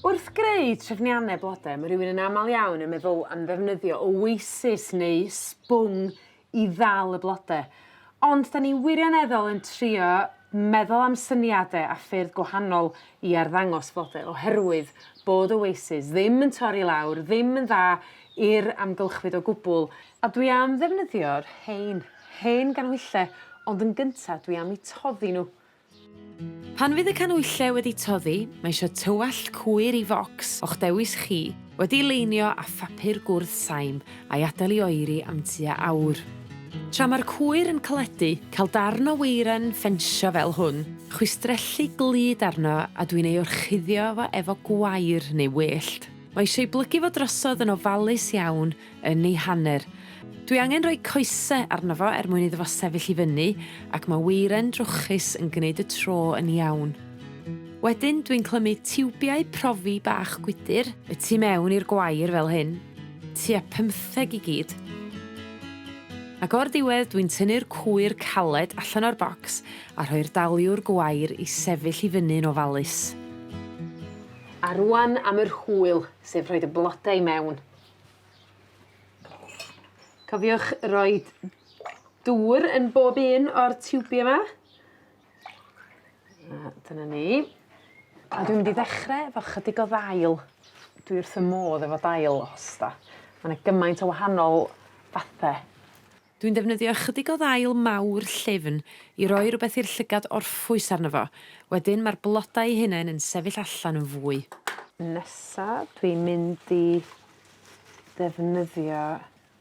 Wrth greu trefnianne blode ma' rywun yn amal iawn yn meddwl am ddefnyddio oasis neu sbwng i ddal y blode ond 'dan ni wirioneddol yn trio meddwl am syniade a ffyrdd gwahanol i arddangos flode oherwydd bod oasis ddim yn torri lawr ddim yn dda i'r amgylchfyd o gwbwl a dwi am ddefnyddio'r rhein, hen ganhwyllau ond yn gynta dwi am 'u toddi n'w. Pan fydd y canwylle wedi toddi mae eisio tywallt cwyr i focs o'ch dewis chi wedi'i leinio â phapur gwrdd saim a'i adael i oeri am tua awr. Tra mae'r cwyr yn caledu, cael darn o weiren ffensio fel hwn, chwistrellu glud arno a dwi'n ei orchuddio fo efo gwair neu wellt. Mae eisiau 'i blygu fo drosodd yn ofalus iawn yn ei hanner. Dwi angen rhoi coese arno fo er mwyn iddo fo sefyll i fyny ac ma' weiren drwchus yn gneud y tro yn iawn. Wedyn dwi'n clymu tiwbiau profi bach gwydyr y tu mewn i'r gwair fel hyn, tua pymtheg i gyd. Ac o'r diwedd dwi'n tynnu'r cwyr caled allan o'r bocs a rhoi'r daliwr gwair i sefyll i fyny'n ofalus. A rŵan am yr hwyl, sef rhoid y blode i mewn. Cofiwch roi dŵr yn bob un o'r tiwbie 'ma. A dyna ni. A dwi mynd i ddechre efo chydig o ddail. Dwi wrth fy modd efo dail hosta. Ma' 'na gymaint o wahanol fathe. Dwi'n defnyddio ychydig o ddail mawr llyfn i roi rwbeth i'r llygad orffwys arno fo wedyn ma'r bloda 'u hunen yn sefyll allan yn fwy. Nesa dwi'n mynd i ddefnyddio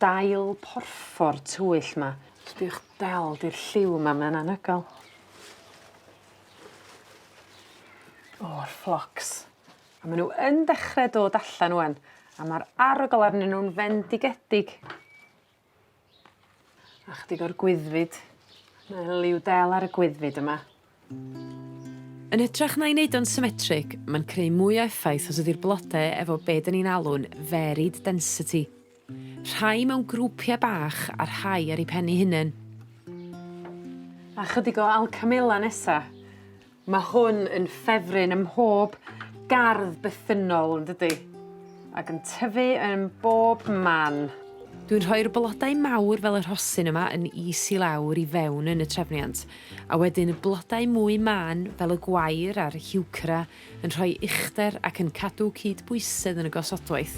dail porffor tywyll 'ma. Sbïwch del 'di'r lliw yma mae'n anhygoel. O yr fflocs. A ma' n'w yn dechre dod allan ŵan a ma'r arogl arnyn nw'n fendigedig. A chydig o'r gwyddfyd. Mae liw del ar y gwyddfyd yma. Yn hytrach na'i neud o'n symmetric ma'n creu mwy o effaith os ydi'r blode efo be' 'dyn ni'n alw'n varied density. Rhai mewn grwpia' bach a rhai ar 'u pen 'u hunen. A chydig o alcamela nesa. Ma' hwn yn ffefryn ym mhob gardd bythynnol yndydi? Ag yn tyfu yn bob man. Dwi'n rhoi'r blodau mawr fel y rhosyn yma yn is i lawr i fewn yn y trefniant a wedyn y blodau mwy mân fel y gwair a'r heuchera yn rhoi uchder ac yn cadw cydbwysedd yn y gosodwaith.